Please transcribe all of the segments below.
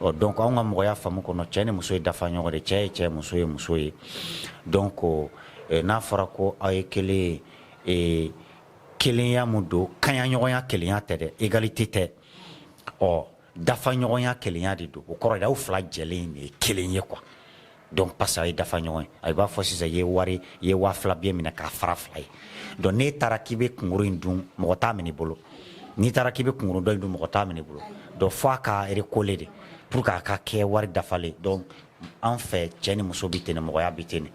Ɔ donc an ka mɔgɔya faamu kɔnɔ cɛ ni muso ye dafa ɲɔgɔn de cɛ ye cɛ muso ye muso ye donc n'a fɔra ko aw ye kelen ye kelenya mun don kaɲaɲɔgɔnya kelenya tɛ dɛ égalité tɛ ɔ dafa ɲɔgɔnya kelenya de don o kɔrɔ de aw fila jɛlen de ye kelen ye quoi donc parce a ye dafa ɲɔgɔn ye a b'a fɔ sisan i ye wari i ye waa fila billet minɛ k'a fara fila ye donc n'e taara k'i bɛ kunkuru in dun mɔgɔ t'a minɛ i bolo n'i taara k'i bɛ kunkuru dɔ in dun mɔgɔ t'a minɛ i bolo donc fo a ka recoller de pour que a ka kɛ wari dafalen donc an fɛ cɛ ni muso bɛ ten mɔgɔya bɛ ten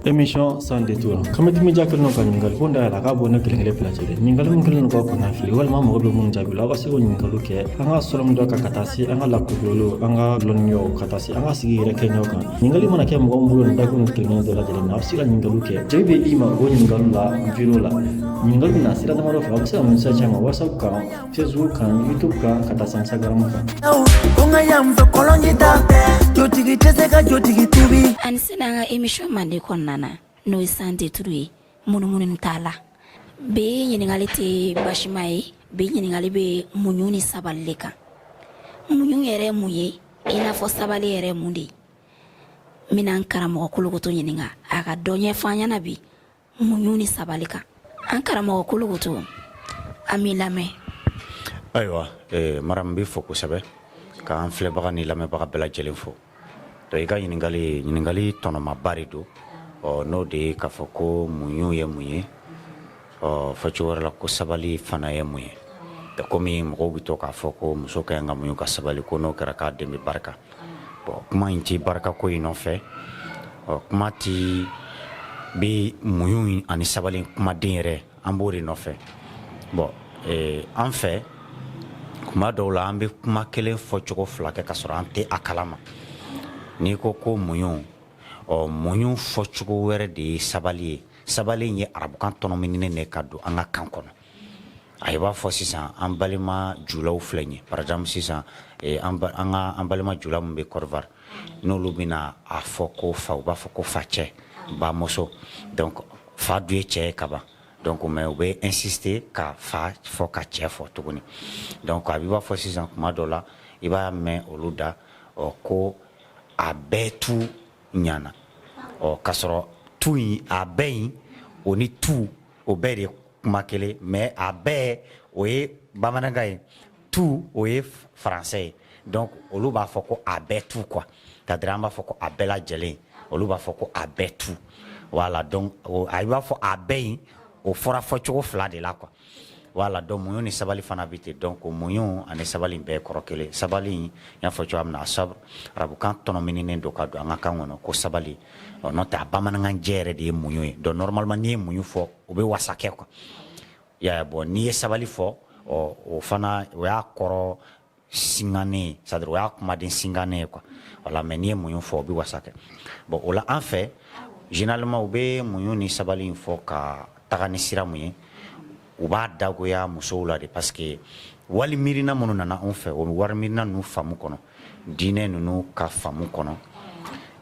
emission sans détour kama dimi ja kelen ka ɲininkali ko da yɛlɛ k'a bɔ ne kelen kelen bila cɛ dɛ ɲininkali min kelen ka kɔnɔnafili walima mago bɛ minnu jaabi la aw ka se k'o ɲininkaliw kɛ an ka sɔrɔ min dɔ kan ka taa se an ka lakodɔlenw an ka lɔnniyaw ka taa se an ka sigi yɛrɛ kɛɲɛw kan ɲininkali mana kɛ mɔgɔ min bolo nin dakun kelen dɔ lajɛlen na aw bɛ se ka ɲininkaliw kɛ jaabi bɛ i ma o ɲininkaliw la video la ɲininkali bɛ na sira damadɔ fɛ aw bɛ se ka message ci an ma WhatsApp kan Facebook kan YouTube kan ka taa se Instagram kan ko nka yan fɛ kɔlɔnji da jotigi tɛ se ka jotigi tubi an sin an ka emission mande kɔnɔna na n'o ye sans détour ye munumunu t'a la bi ɲininkali tɛ basima ye bi ɲininkali bɛ muɲu ni sabali de kan muɲu yɛrɛ mun ye i n'a fɔ sabali yɛrɛ mun de ye n bɛna karamɔgɔ kolokoto ɲininka a ka dɔ ɲɛfɔ an ɲɛna bi muɲu ni sabali kan an karamɔgɔ kolokoto an b'i lamɛn ayiwa eh, mara n b'i fo kosɛbɛ k'an filɛbaga ni lamɛnbaga bɛɛ lajɛlen fo donc i ka ɲininkali ɲininkali tɔnɔmaba de don ɔ n'o de ye k'a fɔ ko muɲu ye mun ye ɔ fɔcogo wɛrɛ la ko sabali fana ye mun ye komi mɔgɔw bɛ to k'a fɔ ko muso ka ɲi ka muɲu ka sabali ko n'o kɛra k'a den bɛ barika Bon kuma in tɛ barikako in nɔfɛ ɔ kuma tɛ bɛ muɲu ani sabali kumaden yɛrɛ an b'o de nɔfɛ bon an fɛ kuma dɔw la an bɛ kuma kelen fɔ cogo fila kɛ ka sɔrɔ an tɛ a kala ma n'i ko ko muɲu ɔ muɲu fɔ cogo wɛrɛ de ye sabali ye sabali ye arabukan tɔnɔminen de ka don an ka kan kɔnɔ A b'a fɔ sisan an balima julaw filɛ ɲɛ par exemple sisan an balima jula minnu bɛ Côte d'Ivoire n'olu bɛna a fɔ ko fa u b'a fɔ ko fa cɛ ba muso donc fa dun ye cɛ ye kaban donc mais u bɛ insister ka fa fɔ ka cɛ fɔ tuguni donc a bɛ b'a fɔ sisan kuma dɔ la i b'a mɛn olu da ɔ ko a bɛɛ tu ɲana ɔ k'a sɔrɔ tu in a bɛɛ in o ni tu o bɛɛ de kuma kelen mais a bɛɛ o ye bamanankan ye tout o ye français ye donc olu b'a fɔ ko a bɛɛ tout quoi c'est à dire an b'a fɔ ko a bɛɛ lajɛlen olu b'a fɔ ko a bɛɛ tout voilà donc a b'a fɔ a bɛɛ in o fɔra fɔcogo fila de la quoi voilà donc muɲu ni sabali fana bɛ ten donc muɲu ani sabali bɛɛ kɔrɔ kelen sabali in y'a fɔ cogoya min na a sabr arabukan tɔnɔminen don ka don an ka kan kɔnɔ ko sabali ɔ n'o tɛ a bamanankan jɛ yɛrɛ de ye muɲu ye donc normalement n'i ye muɲu fɔ o bɛ wasa kɛ quoi ya bon n'i ye sabali fɔ ɔ o fana o y'a kɔrɔ singannen ye c'est à dire o y'a kumaden singannen ye quoi voilà mais n'i ye muɲu fɔ o bɛ wasa kɛ bon o la an fɛ généralement u bɛ muɲu ni sabali in fɔ ka taga ni sira mun ye u b'a dagoya musow la de parce que wali miirina minnu nana anw fɛ o bɛ wali miirina ninnu faamu kɔnɔ diinɛ ninnu ka faamu kɔnɔ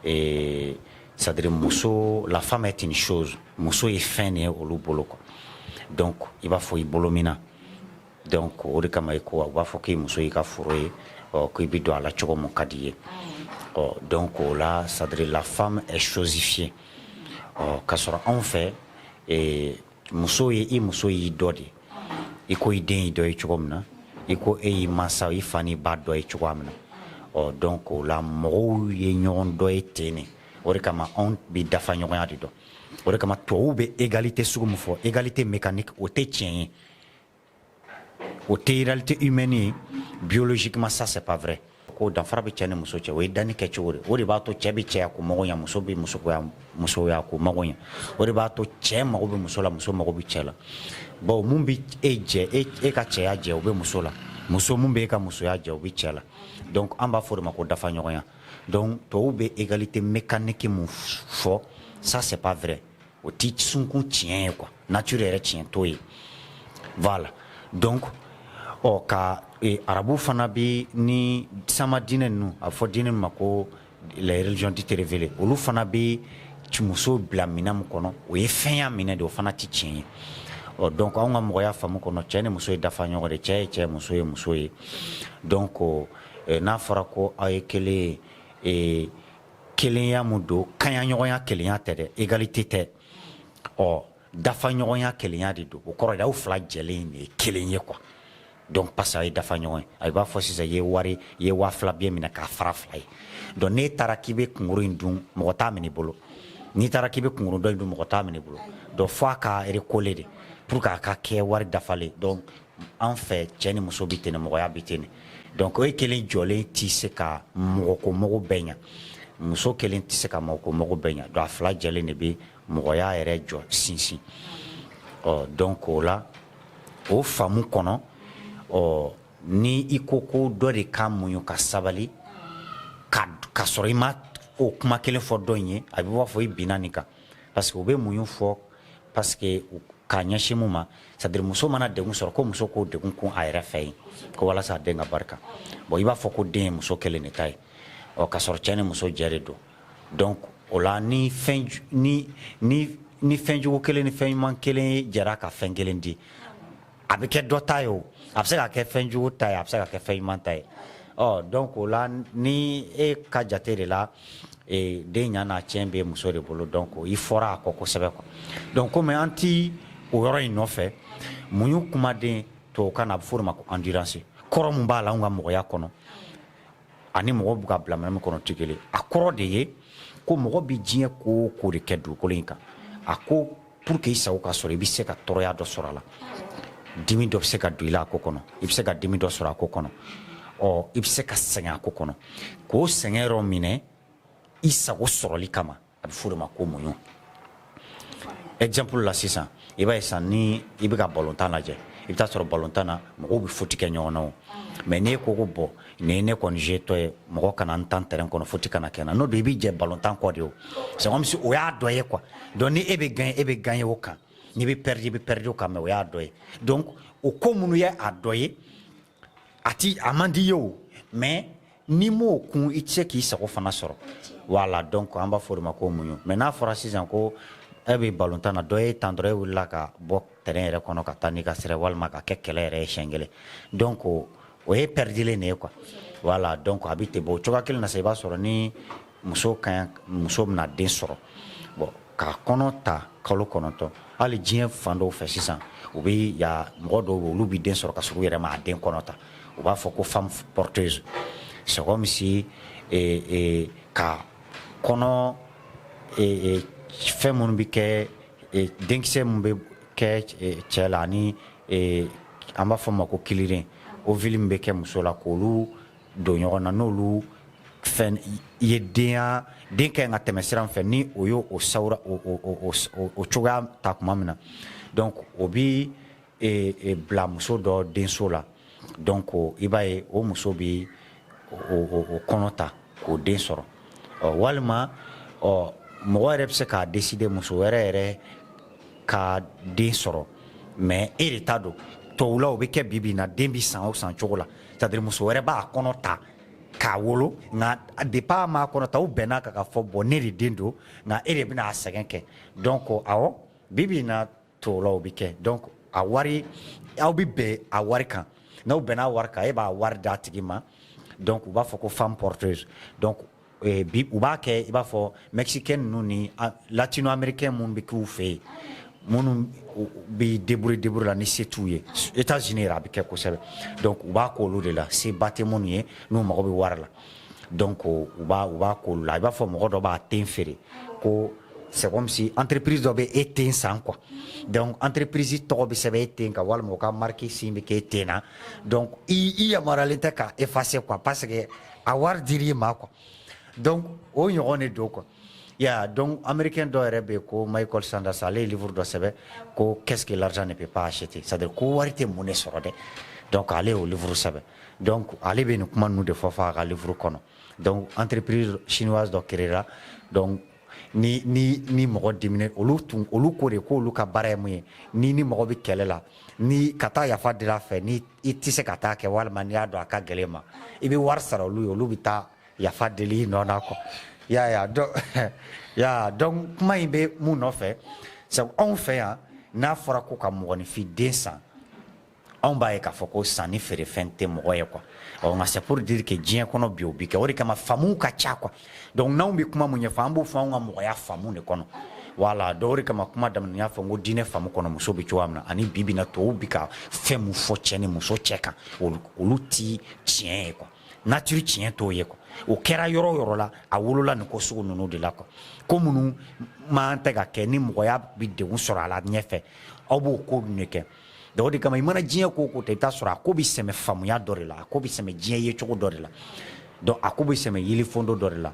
ee c'est à dire muso la femme est une chose muso ye fɛn de ye olu bolo quoi donc i b'a fɔ i bolo minɛn donc o de kama i ko u b'a fɔ k'i muso y'i ka foro ye ɔ k'i bɛ don a la cogo min ka di i ye ɔ donc o la c'est à dire la femme est chosifiée ɔ k'a sɔrɔ anw fɛ ee muso ye i muso y'i dɔ de i ko i den y'i dɔ ye cogo min na i ko e y'i mansa i fa n'i ba dɔ ye cogoya min na ɔ donc o la mɔgɔw ye ɲɔgɔn dɔ ye ten ne o de kama anw bɛ dafa ɲɔgɔnya de dɔn o de kama tubabuw bɛ égalité sugu min fɔ égalité mécanique o tɛ tiɲɛ ye o tɛ réalité humaine ye biologiquement ça c'est pas vrai ko danfara bɛ cɛ ni muso cɛ o ye danni kɛ cogo de o de b'a to cɛ bɛ cɛya ko mago ɲɛ muso bɛ musoya musoya ko mago ɲɛ o de b'a to cɛ mago bɛ muso la muso mago bɛ cɛ la bawo mun bɛ e jɛ e e ka cɛya jɛ o bɛ muso la muso mun bɛ e ka musoya jɛ o bɛ cɛ la donc an b'a fɔ o de ma ko dafa ɲɔgɔnya donc tɔw bɛ égalité mécanique mun fɔ ça c'est pas vrai o tɛ sunkun tiɲɛ ye quoi nature yɛrɛ tiɲɛ t'o ye voilà donc ɔ ka e, arabu fana bɛ ni sama diinɛ ninnu a bɛ fɔ diinɛ ma ko les religions dites révélées olu fana bɛ musow bila minɛn min kɔnɔ o ye fɛnya minɛn de o fana tɛ tiɲɛ ye ɔ donc anw ka mɔgɔya faamu kɔnɔ cɛ ni muso ye dafa ɲɔgɔn de cɛ ye cɛ muso ye muso ye donc n'a fɔra ko aw ye kelen ye kelenya mun don kaɲaɲɔgɔnya kelenya tɛ dɛ égalité tɛ ɔ dafa ɲɔgɔnya kelenya de don o kɔrɔ aw fila jɛlen de ye kelen ye quoi donc parce que a ye dafa ɲɔgɔn ye a b'a fɔ sisan i ye wari ye waa fila billet minɛ k'a fara fila ye donc n'e taara k'i bɛ kunkuru in dun mɔgɔ t'a minɛ i bolo n'i taara k'i bɛ kunkuru dɔ in dun mɔgɔ t'a minɛ i bolo donc fo a ka recoller de pour que a ka kɛ wari dafalen donc An fɛ cɛ ni muso bɛ ten mɔgɔya bɛ ten donc e kelen jɔlen tɛ se ka mɔgɔko mago bɛɛ ɲɛ muso kelen tɛ se ka mɔgɔko mago bɛɛ ɲɛ donc a fila jɛlen de bɛ mɔgɔya yɛrɛ jɔ sinsin ɔ donc o la o faamu kɔnɔ ɔ ni i ko ko dɔ de ka muɲu ka sabali ka sɔrɔ i ma o kuma kelen fɔ dɔ in ye a bɛ b'a fɔ i binna nin kan parce que u bɛ muɲu fɔ parce que k'a ɲɛsin mun ma c'est à dire muso mana degun sɔrɔ ko muso k'o degun kun a yɛrɛ fɛ yen ko walasa a den ka barika bon i b'a fɔ ko den ye muso kelen de ta ye ɔ k'a sɔrɔ cɛ ni muso jɛ de don donc o la ni fɛn ni ni ni fɛn jugu kelen ni fɛn ɲuman kelen jɛra ka fɛn kelen di a bɛ kɛ dɔ ta ye o a bɛ se ka kɛ fɛn jugu ta ye a bɛ se ka kɛ fɛn ɲuman ta ye ɔ donc o la ni e ka jate de la den ɲa n'a tiɲɛ bɛ muso de bolo donc i fɔra a kɔ kosɛbɛ quoi donc kɔmi an tɛ o yɔrɔ in nɔfɛ muɲu kumaden tubabukan na a bɛ fɔ o de ma ko endurance kɔrɔ min b'a la an ka mɔgɔya kɔnɔ ani mɔgɔ bɛ k'a bila minɛn min kɔnɔ tɛ kelen ye, a kɔrɔ de ye ko mɔgɔ bɛ diɲɛ ko o ko de kɛ dugukolo in kan, a ko pour que i sago ka sɔrɔ i bɛ se ka tɔɔrɔya dɔ sɔrɔ a la, dimi dɔ bɛ se ka don i la a ko kɔnɔ, i bɛ se ka dimi dɔ sɔrɔ a ko kɔnɔ, ɔ i bɛ se ka sɛgɛn a ko kɔnɔ, k'o sɛgɛn yɔrɔ minɛ i sago sɔrɔli kama. a bɛ fɔ o de ma ko muɲu exemple la sisan i b'a ye sisan ni i bɛ ka balontan lajɛ i bɛ taa sɔrɔ balontan na mɔgɔw bɛ faute kɛ ɲɔgɔn na o mais n'e ko ko bon n'i ye ne kɔni jeu tɔ ye mɔgɔ kana n tan terrain kɔnɔ faute kana kɛ n na n'o don i bɛ jɛ balontan kɔ de o c'est comme si o y'a dɔ ye quoi donc ni e bɛ gagner e bɛ gagner o kan n'i bɛ perdre i bɛ perdre o kan mais o y'a dɔ ye donc o ko minnu ye a dɔ ye a ti a man di i ye o mais N'i m'o kun i tɛ se k'i sago fana sɔrɔ voilà donc an b'a fɔ o de ma ko muɲu mais n'a fɔra sisan ko e bɛ balontan na dɔ y'e tan dɔrɔn e wulila ka bɔ terrain yɛrɛ kɔnɔ ka taa n'i ka sira walima ka kɛ kɛlɛ yɛrɛ ye siɲɛ kelen donc o ye pɛridilen de ye quoi voilà donc a bɛ ten bon o cogoya kelen na sa i b'a sɔrɔ ni muso ka muso bɛna den sɔrɔ k'a kɔnɔ ta kalo kɔnɔntɔn hali diɲɛ fan dɔw fɛ sisan u bɛ ya mɔgɔ dɔw bɛ olu bɛ den sɔrɔ ka sɔrɔ u yɛrɛ ma a den kɔnɔ ta u b'a fɔ ko femme porteuse c'est comme si ka kɔnɔ fɛn minnu bɛ kɛ denkisɛ min bɛ kɛ cɛ la ani an b'a fɔ o ma ko kiliden ovule min bɛ kɛ muso la k' olu don ɲɔgɔn na n'olu fɛn ye denya den ka kan ka tɛmɛ sira min fɛ ni o y' o sawura o cogoya ta tuma min na donc o bɛ bila muso dɔ denso la donc i b'a ye o muso bɛ o kɔnɔ ta k'o den sɔrɔ ɔ walima ɔ mɔgɔ yɛrɛ bɛ se k'a décider muso wɛrɛ yɛrɛ ka den sɔrɔ mais e de ta don tubabu la o bɛ kɛ bi bi in na den bɛ san o san cogo la c'est à dire muso wɛrɛ b'a kɔnɔ ta k'a wolo nka depuis a ma kɔnɔ ta u bɛnna kan ka fɔ bon ne de den don nka e de bɛna a sɛgɛn kɛ donc awɔ bi bi in na tubabu la o bɛ kɛ donc a wari aw bɛ bɛn a wari kan n'aw bɛnna a wari kan e b'a wari d'a tigi ma donc u b'a fɔ ko femme porteuse donc bi u b'a kɛ i b'a fɔ mɛkikɛ ninnu ni latina anmeriikɛ minnu bɛ kɛ fɛ yen minnu bɛ dauru dauru la ni se t'u ye e t' z a bɛ kɛ kosɛbɛ u b'a ko olu de la se ba tɛ minnu ye n'u mago bɛ wari la dɔn ko u u b'a ko la i b'a fɔ mɔgɔ dɔ b'a den feere ko sɛ misi an ppiriz dɔ bɛ e ten san qu an ppiriz tɔgɔ bɛ sɛbɛn e ten ka walima u ka marisi bɛ kɛ e ten na i yamaruyalen tɛ k' e fase qu a ba sɛgɛ a wari dir'i ma quoi donc o ɲɔgɔn de don quoi ya donc américain dɔ yɛrɛ bɛ yen ko michael sanders ale ye livre dɔ sɛbɛn ko qu'est ce que l'argent ne peut pas acheter c'est à dire ko wari tɛ mun de sɔrɔ dɛ donc ale y'o livre sɛbɛn donc ale bɛ nin kuma ninnu de fɔ fɔ a ka livre kɔnɔ donc entreprise chinoise dɔ créera donc ni ni ni mɔgɔ diminɛ olu tun olu ko de ko olu ka baara ye mun ye ni ni mɔgɔ bɛ kɛlɛ la ni ka taa yafa deli a fɛ ni i tɛ se ka taa kɛ walima n'i y'a dɔn a ka gɛlɛn i ma i bɛ wari sara olu ye olu bɛ taa yafa deli i nɔ na quoi ya ya ya donc kuma in bɛ mun nɔfɛ sabu anw fɛ yan n'a fɔra ko ka mɔgɔninfin den san Anw b'a ye k'a fɔ ko sanni feere fɛn tɛ mɔgɔ ye quoi ɔ nka c'est pour dire que diɲɛ kɔnɔ bi o bi kɛ o de kama faamuw ka ca quoi donc n'anw bɛ kuma min ɲɛfɔ an b'o fɔ anw ka mɔgɔya faamu de kɔnɔ voilà donc o de kama kuma daminɛ n y'a fɔ ko diinɛ faamu kɔnɔ muso bɛ cogoya min na ani bi bi in na tɔw bi ka fɛn min fɔ cɛ ni muso cɛ kan olu tɛ tiɲɛ ye quoi nature tiɲɛ t'o ye quoi o kɛra yɔrɔ o yɔrɔ la a wolola nin ko sugu ninnu de la quoi ko minnu man tɛ ka kɛ ni mɔgɔya bɛ degun sɔrɔ a la ɲɛfɛ aw b'o ko de kɛ donc o de kama i mana diɲɛ ko o ko ta i bɛ taa sɔrɔ a ko bɛ sɛmɛ faamuya dɔ de la a ko bɛ sɛmɛ diɲɛ yecogo dɔ de la donc a ko bɛ sɛmɛ yelifondo dɔ de la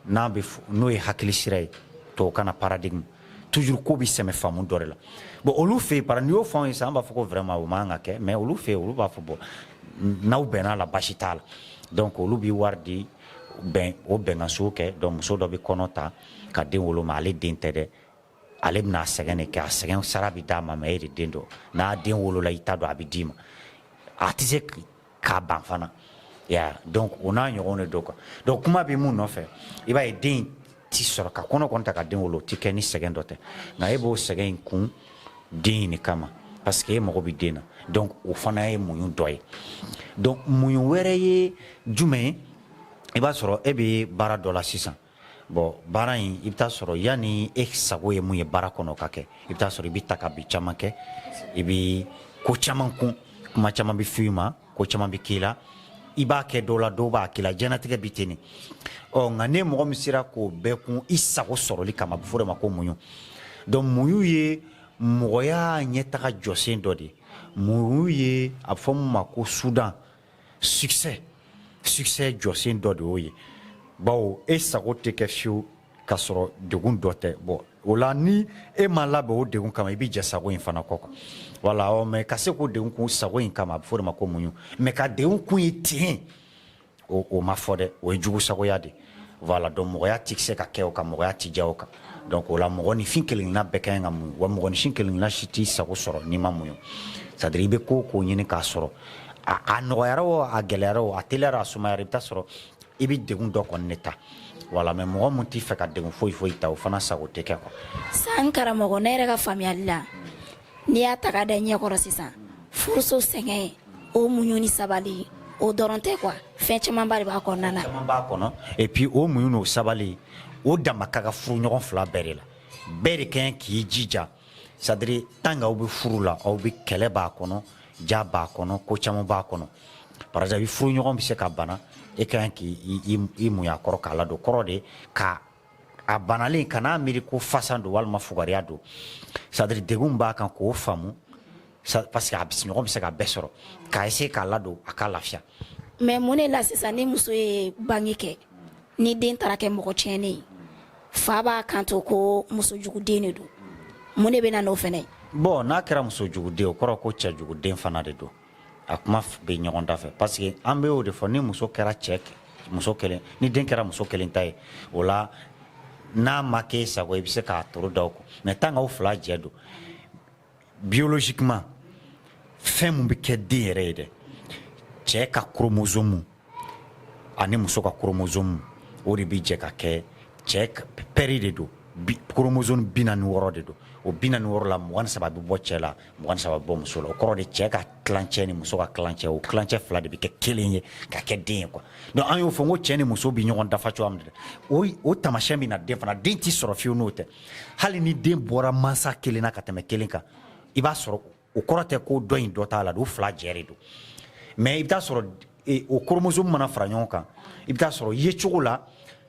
n'a bɛ n'o ye hakili sira ye tubabukan na paradigme toujours ko bɛ sɛmɛ faamu dɔ de la bon olu fɛ yen para n'i y'o fɔ an ye sisan an b'a fɔ ko vraiment o man kan ka kɛ mais olu fɛ yen olu b'a fɔ bon n'aw bɛnna a la basi t'a la donc olu bɛ wari di bɛn o bɛnkanso kɛ donc muso dɔ bɛ kɔnɔ ta ka den wolo mais ale den tɛ dɛ ale bɛna sɛgɛn de kɛ a sɛgɛn sara bɛ d'a ma mais e de den don n'a den wolola i ta don a bɛ d'i ma a tɛ se k'a ban fana ya donc o n'a ɲɔgɔn de don quoi donc kuma bɛ mun nɔfɛ i b'a ye den tɛ sɔrɔ ka kɔnɔ kɔn ta ka den wolo o tɛ kɛ ni sɛgɛn dɔ tɛ nka e b'o sɛgɛn in kun den in de kama parce que e mago bɛ den na donc o fana ye muɲu dɔ ye donc muɲu wɛrɛ ye jumɛn ye i b'a sɔrɔ e bɛ baara dɔ la sisan Bon baara in i bɛ taa sɔrɔ yanni e sago ye mun ye baara kɔnɔ ka kɛ i bɛ taa sɔrɔ i bɛ ta ka bi caman kɛ i bɛ ko caman kun kuma caman bɛ f'i ma ko caman bɛ k'i la i b'a kɛ dɔw la dɔw b'a k'i la diɲɛlatigɛ bɛ ten ɔ nka ni mɔgɔ min sera k'o bɛɛ kun i sago sɔrɔli kama a bɛ fɔ o de ma ko muɲu donc muɲu ye mɔgɔya ɲɛtaga jɔsen dɔ de ye muɲu ye a bɛ fɔ mun ma ko sudan succès succès jɔsen dɔ de y'o ye bawo e sago tɛ kɛ fiyewu k'a sɔrɔ degun dɔ tɛ bɔn o la ni e ma labɛn o degun kama i bɛ jɛ sago in fana kɔ quoi voilà ɔ mais ka se k'o degun kun sago in kama a bɛ fɔ o de ma ko muɲu mais ka degun kun ye ten o ma fɔ dɛ o ye jugu sagoya de ye Voilà donc mɔgɔya tɛ se ka kɛ o kan mɔgɔya tɛ diya o kan donc o la mɔgɔninfin kelenna bɛɛ ka ɲi ka muɲu wa mɔgɔninfin kelenna si t'i sago sɔrɔ n'i ma muɲu c'est-à-dire i bɛ ko o ko ɲini k'a sɔrɔ a nɔgɔyara o a gɛlɛyara o a teliyara a sumayara i bɛ taa sɔrɔ i bɛ degun dɔ kɔni de ta voilà mais mɔgɔ min t'i fɛ ka degun foyi foyi ta o fana sago tɛ kɛ quoi san karamɔgɔ ne yɛrɛ ka faamuyali la n'i y'a ta ka da ɲɛkɔrɔ sisan furuso sɛgɛn o muɲu ni sabali o dɔrɔn tɛ quoi fɛn camanba de b'a kɔnɔna na caman b'a kɔnɔ et puis o muɲu n'o sabali o dama ka kan furu ɲɔgɔn fila bɛɛ de la bɛɛ de ka ɲi k'i jija c'est-à-dire tant que aw bɛ furu la aw bɛ kɛlɛ b'a kɔnɔ diya b'a kɔnɔ ko caman b'a kɔnɔ par exemple i furu ɲɔgɔn bɛ se ka bana e ka kan k'i muɲu a kɔrɔ k'a ladon kɔrɔ de ka a banalen kan'a miiri ko fasan don walima fugariya don c'est-à-dire degun b'a kan k'o faamu parce que a ɲɔgɔn bɛ se ka bɛɛ sɔrɔ k'a essayer k'a ladon a ka lafiya mais mun ne la sisan ni muso ye bange kɛ ni den taara kɛ mɔgɔ tiɲɛnen ye fa b'a kanto ko muso juguden de don mun de bɛ na n'o fɛnɛ ye bon n'a kɛra muso juguden o kɔrɔ ko cɛ juguden fana de don a kuma bɛ ɲɔgɔn da fɛ parce que an bɛ o de fɔ ni muso kɛra cɛ muso kelen ni den kɛra muso kelen ta ye o la n'a ma k'e sago i bɛ se k'a toro da o kɔ mais tant que aw fila jɛ don biologiquement fɛn mun bɛ kɛ den yɛrɛ ye dɛ cɛ ka chromosome ani muso ka chromosome o de bɛ jɛ ka kɛ cɛ paire de don chromosome bi naani ni wɔɔrɔ de don o bi naani ni wɔɔrɔ la mugan saba bɛ bɔ cɛ la mugan saba bɛ bɔ muso la o kɔrɔ de cɛ ka tilancɛ ni muso ka tilancɛ o tilancɛ fila de bɛ kɛ kelen ye ka kɛ den ye quoi donc an y'o fɔ ko cɛ ni muso bɛ ɲɔgɔn dafa cogoya min dɛ o taamasiyɛn bɛ na den fana den tɛ sɔrɔ fiyewu n'o tɛ hali ni den bɔra mansa kelen na ka tɛmɛ kelen kan i b'a sɔrɔ o kɔrɔ tɛ ko dɔ in dɔ t'a la o fila jɛ de don mais i bɛ t'a sɔrɔ e, o chromosome mana fara ɲɔgɔn kan i bɛ t'a sɔrɔ yecogo la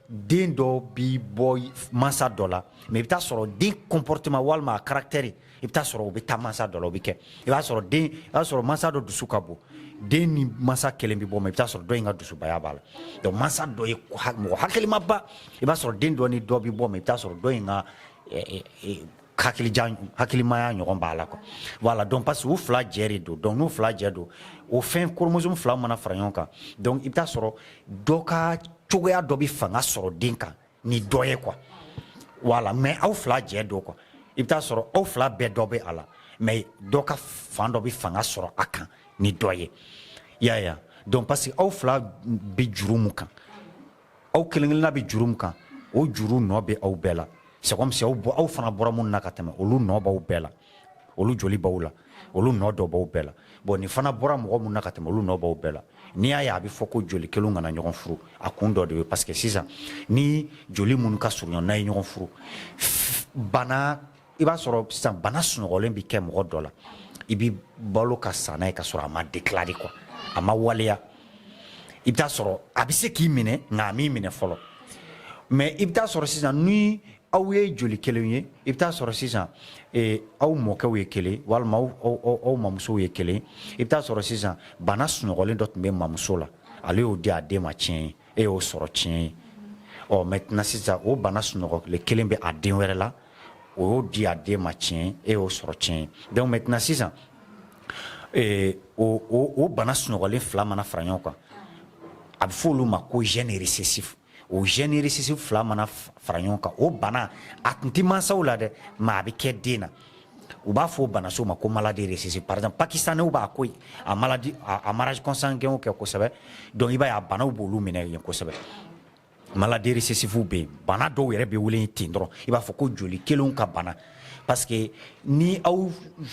den dɔ bi bɔ mansa dɔ la mais i bɛ t'a sɔrɔ den comportement walima a caractère i bɛ t'a sɔrɔ o bɛ taa mansa dɔ la o bɛ kɛ i b'a sɔrɔ den i b'a sɔrɔ mansa dɔ dusu ka bon den ni mansa kelen bɛ bɔ mais i bɛ t'a sɔrɔ dɔ in ka dusubaya b'a la donc mansa dɔ ye mɔgɔ hakilimaba i b'a sɔrɔ den dɔ ni dɔ bɛ bɔ mais i bɛ t'a sɔrɔ dɔ in ka eh, eh, eh, hakilijan hakilimaya ɲɔgɔn b'a la quoi voilà donc parce que u fila jɛ de don donc n'u fila jɛ don o fɛn chromosome fila mana fara ɲɔgɔn kan donc i bɛ taa sɔrɔ dɔ ka cogoya dɔ bɛ fanga sɔrɔ den kan ni dɔ ye quoi voilà mais aw fila jɛ don quoi i bɛ taa sɔrɔ aw fila bɛɛ dɔ bɛ a la mais dɔ ka fan dɔ bɛ fanga sɔrɔ a kan ni dɔ ye y'a ye donc parce que aw fila bɛ juru mun kan aw kelenkelenna bɛ juru min kan o juru nɔ bɛ aw bɛɛ la c'est comme si aw bɔ aw fana bɔra minnu na ka tɛmɛ olu nɔ b'aw bɛɛ la olu joli b'aw la olu nɔ dɔ b'aw bɛɛ la bon nin fana bɔra mɔgɔ minnu na ka tɛmɛ olu nɔ b'aw bɛɛ la n'i y'a ye a bɛ fɔ ko joli kelenw kana ɲɔgɔn furu a kun dɔ de ye parce que sisan ni joli minnu ka surun ɲɔgɔn na ye ɲɔgɔn furu bana i b'a sɔrɔ sisan bana sunɔgɔlen bɛ kɛ mɔgɔ dɔ la i bɛ balo ka sa n'a ye ka sɔrɔ a ma déclarer quoi a ma waleya i bɛ taa sɔrɔ a bɛ se k'i minɛ nka a m'i minɛ fɔlɔ mais i bɛ taa sɔrɔ sisan ni aw ye joli kelen ye i bɛ taa sɔrɔ sisan eh, aw mɔkɛw ye kelen walima aw aw aw aw mamusow ye kelen i bɛ taa sɔrɔ sisan bana sunɔgɔlen dɔ tun bɛ mamuso la ale y'o di a den ma tiɲɛ ye e y'o sɔrɔ tiɲɛ ye ɔ maintenant sisan o bana sunɔgɔlen kelen bɛ a den wɛrɛ la o y'o di a den ma tiɲɛ e y'o sɔrɔ tiɲɛ ye donc maintenant sisan o bana sunɔgɔlen fila mana fara ɲɔgɔn kan a bɛ fɔ olu ma ko gène récessif o gène récessif fila mana fara ɲɔgɔn kan o bana a tun tɛ mansaw la dɛ mais a bɛ kɛ den na u b'a fɔ o bana sugu ma ko maladie récessive par exemple pakistanɛw b'a ko a maladie a mariage consanguin kɛ kosɛbɛ donc i b'a ye a banaw b'olu minɛ yen kosɛbɛ maladie récessivew bɛ yen bana dɔw yɛrɛ bɛ wele ten dɔrɔn i b'a fɔ ko joli kelenw ka bana parce que ni aw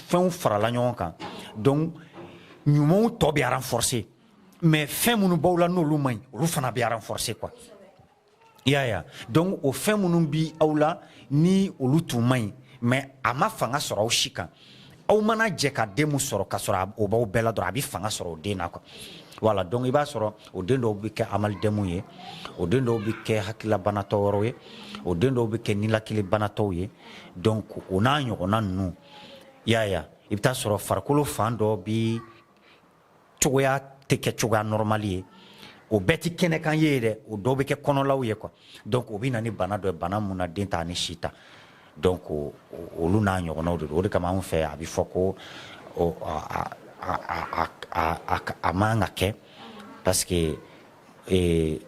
fɛnw farala ɲɔgɔn kan donc ɲumanw tɔ bɛ renforcer mais fɛn minnu b'aw la n'olu man ɲi olu fana bɛ renforcer quoi i y'a ye donc o fɛn minnu bi aw la ni olu tun man ɲi mais a ma fanga sɔrɔ aw si kan aw mana jɛ ka den min sɔrɔ ka sɔrɔ o b'aw bɛɛ la dɔrɔn a bɛ fanga sɔrɔ o den na quoi voilà donc i b'a sɔrɔ o den dɔw bɛ kɛ amalidɛmu ye o den dɔw bɛ kɛ hakililabanatɔ wɛrɛw ye o den dɔw bɛ kɛ nilakilibanatɔw ye donc o n'a ɲɔgɔnna ninnu y'a ye i bɛ taa sɔrɔ farikolo fan dɔ bɛ cogoya tɛ kɛ cogoya normal ye o bɛɛ tɛ kɛnɛkan ye dɛ o dɔw bɛ kɛ kɔnɔlaw ye quoi donc o bɛ na ni bana dɔ ye bana mun na den t'a ni si ta donc olu n'a ɲɔgɔnnaw de don o de kama anw fɛ a bɛ fɔ ko a man ka kɛ parce que e,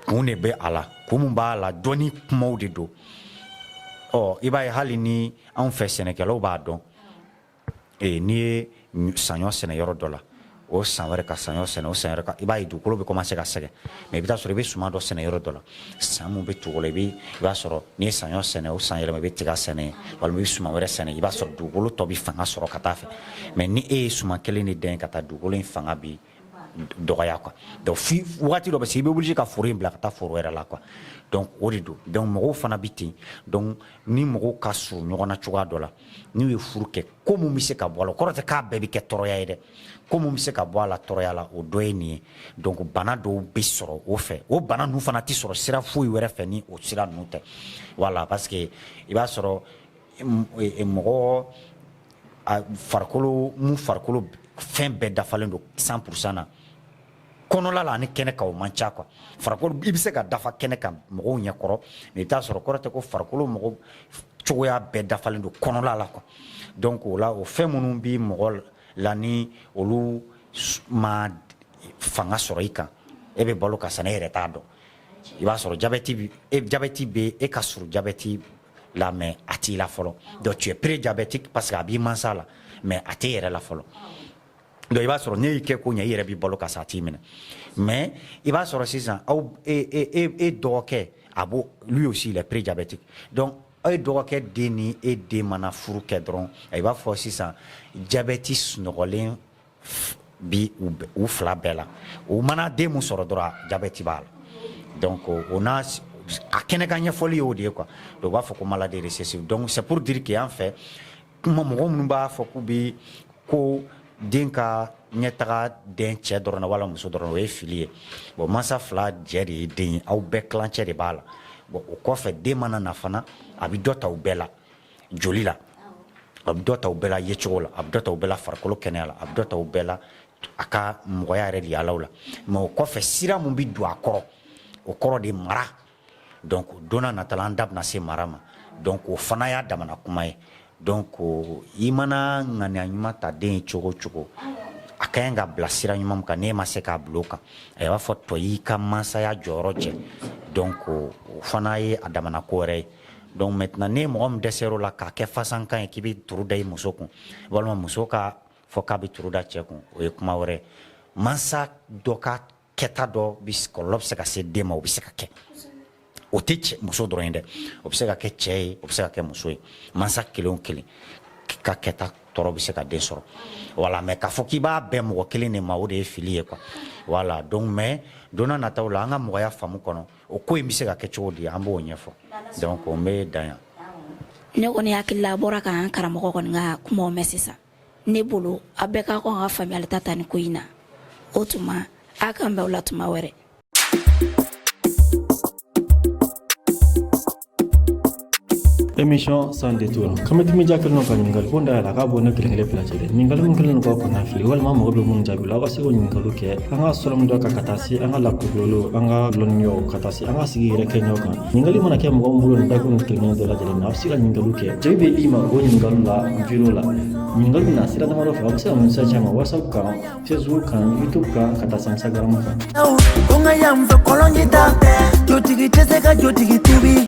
kun de bɛ a la kun min b'a la dɔnni kumaw de don ɔ i b'a ye hali ni anw fɛ sɛnɛkɛlaw b'a dɔn Ee n'i ye saɲɔ sɛnɛ yɔrɔ dɔ la o san wɛrɛ ka saɲɔ sɛnɛ o san wɛrɛ ka i b'a ye dugukolo bɛ commencer ka sɛgɛn mais i bɛ t'a sɔrɔ i bɛ suman dɔ sɛnɛ yɔrɔ dɔ la san min bɛ tugu o la i bɛ i b'a sɔrɔ n'i ye saɲɔ sɛnɛ o san yɛlɛma i bɛ tiga sɛnɛ yen walima i bɛ suman wɛrɛ sɛnɛ yen i b'a sɔrɔ dugukolo tɔ bɛ fanga sɔrɔ ka taa fɛ mais ni e ye suman kelen de dan yen ka taa dugukolo in fanga bi dɔgɔya quoi donc fo wagati dɔ bɛ se i bɛ wuli ka foro in bila ka taa foro wɛrɛ la quoi donc o de don donc mɔgɔw fana bɛ ten donc ni mɔgɔw ka surun ɲɔgɔn na cogoya dɔ la n'u ye furu kɛ ko mun bɛ se ka bɔ a la o kɔrɔ tɛ k'a bɛɛ bɛ kɛ tɔɔrɔya ye dɛ ko mun bɛ se ka bɔ a la tɔɔrɔya la o dɔ ye nin ye donc bana dɔw bɛ sɔrɔ o fɛ o bana ninnu fana tɛ sɔrɔ sira foyi wɛrɛ fɛ ni o sira ninnu tɛ voilà parce que i b'a sɔrɔ mɔgɔ farikolo mun farikolo fɛn bɛɛ dafalen don 100 pour 100 na kɔnɔla la ani kɛnɛ kan o man ca quoi farikolo i bɛ se ka dafa kɛnɛ kan mɔgɔw ɲɛ kɔrɔ mais i bɛ t'a sɔrɔ kɔrɔ tɛ ko farikolo mɔgɔ cogoya bɛɛ dafalen don kɔnɔla la quoi donc o la o fɛn minnu bɛ mɔgɔ la ni olu ma fanga sɔrɔ i kan e bɛ balo ka sa n'e yɛrɛ t'a dɔn i b'a sɔrɔ jabɛti bɛ e jabɛti bɛ e ka surun jabɛti la mais a t'i la fɔlɔ donc tu es prédiabétique parce que a b'i mansa la mais a t'e yɛrɛ la fɔlɔ donc i b'a sɔrɔ n'e y'i kɛko ɲɛ i yɛrɛ b'i balo ka sa a t'i minɛ mais i b'a sɔrɔ sisan aw e e e e dɔgɔkɛ a b'o lui aussi il est prédiabétique donc aw e dɔgɔkɛ den ni e den mana furu kɛ dɔrɔn i b'a fɔ sisan jabɛti sunɔgɔlen Bi u fila bɛɛ la u mana den min sɔrɔ dɔrɔn jabɛti b'a la donc o n'a kɛnɛkan ɲɛfɔli y'o de ye quoi u b'a fɔ ko maladie récessive donc c'est pour dire que yan fɛ kuma mɔgɔ minnu b'a fɔ k'u bɛ ko den ka ɲɛtaga den cɛ dɔrɔn na wala muso dɔrɔn na o ye fili ye bon mansa fila jɛ de ye den ye aw bɛɛ kilancɛ de b'a la bon o kɔfɛ den mana na fana a bɛ dɔ ta u bɛɛ la joli la a bɛ dɔ ta u bɛɛ la yecogo la a bɛ dɔ ta u bɛɛ la farikolo kɛnɛya la a bɛ dɔ ta u bɛɛ la a ka mɔgɔya yɛrɛ de yaalaw la mais o kɔfɛ sira min bɛ don a kɔrɔ o kɔrɔ de mara donc don nata la an da bɛna se mara ma donc o fana y'a damana kuma ye donc i mana ŋaniya ɲuman ta den ye cogo o cogo a ka ɲi k'a bila sira ɲuman min kan n'e ma se k'a bila o kan a b'a fɔ tɔ y'i ka mansaya jɔyɔrɔ jɛ donc o fana ye a damana ko wɛrɛ ye Donc maintenant ni mɔgɔ min dɛsɛr'o la k'a kɛ fasankan ye k'i bɛ turu da i muso kun walima muso k'a fɔ k'a bɛ turu da cɛ kun o ye kuma wɛrɛ ye mansa dɔ ka kɛta dɔ kɔlɔlɔ bɛ se ka se den ma o bɛ se ka kɛ o tɛ cɛ muso dɔrɔn ye dɛ o bɛ se ka kɛ cɛ ye o bɛ se ka kɛ muso ye mansa kelen o kelen ka kɛta tɔɔrɔ bɛ se ka den sɔrɔ voilà mais k'a fɔ k'i b'a bɛn mɔgɔ kelen de ma o de ye fili ye quoi voilà donc mais don nataw la an ka mɔgɔya faamu kɔnɔ O ko in bɛ se ka kɛ cogo di an b'o ɲɛfɔ donc n bɛ dan yan ne kɔni hakili la a bɔra ka an karamɔgɔ kɔni ka kumaw mɛn sisan ne bolo a bɛɛ ka kan ka faamuyali ta ta nin ko in na o tuma a k'an bɛn o la tuma wɛrɛ émission sans détour kama dimi ja kelen ka ɲininkali ko da yɛlɛ k'a bɔ ne kelen kelen bila cɛ dɛ ɲininkali min kɛlen k'aw kɔnɔ fili walima mago bɛ minnu jaabi la aw ka se k'o ɲininkaliw kɛ an ka sɔrɔ min dɔ kan ka taa se an ka lakodɔlenw an ka lɔnniyaw ka taa se an ka sigi yɛrɛ kɛɲɛw kan ɲininkali mana kɛ mɔgɔ min bolo nin dakun nin kelen dɔ lajɛlen na aw bɛ se ka ɲininkaliw kɛ jaabi bɛ d'i ma o ɲininkaliw la video la ɲininkali bɛ na sira damadɔ fɛ aw bɛ se ka message ci an ma whatsapp kan facebook kan youtube kan ka taa se instagram kan ko n ka yan fɛ kɔlɔnji t'a fɛ jotigi tɛ se ka jotigi tubi